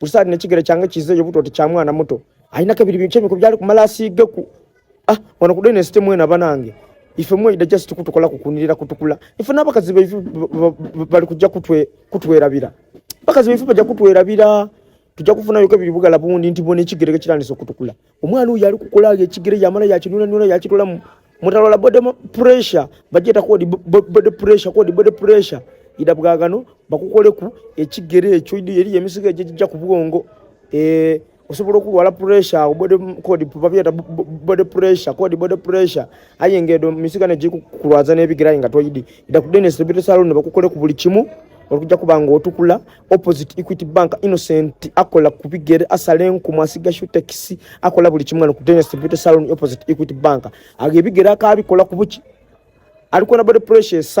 Kusali ne kigere kyange kize yo buto kya mwana muto. Aina kabiri binche miko byali kumala asige ku. Ah, wana kudene site mwena banange. Ife mwe ida just kutukola kukunirira kutukula. Ife naba kazibe ife bali kujja kutwe kutwera bira. Bakazibe ife bajja kutwera bira. Tujja kufuna yo kabiri bugala bundi ntibone kigere kyandiso kutukula. omwana oyo ali kukola ekigere yamala yakinunanuna yakitolamu mutalwala body pressure bajeta kodi body pressure kodi body pressure ida bwagano bakukoleku ekigere ekyo idi yeri emisiga ejija ku bwongo eh osobola okulwala pressure body kodi babeta body pressure kodi body pressure ayengedo misiga ne jiku kulwaza ne bigira inga toyidi ida ku dentist bito salon bakukoleku buli kimu okujja kubanga otukula opposite equity bank innocent akola ku bigere asala enkumu asiga shutekisi akola buli kimu wano ku dennis beauty salon opposite equity bank aga ebigere akaabikola ku buki alikola body pressure esala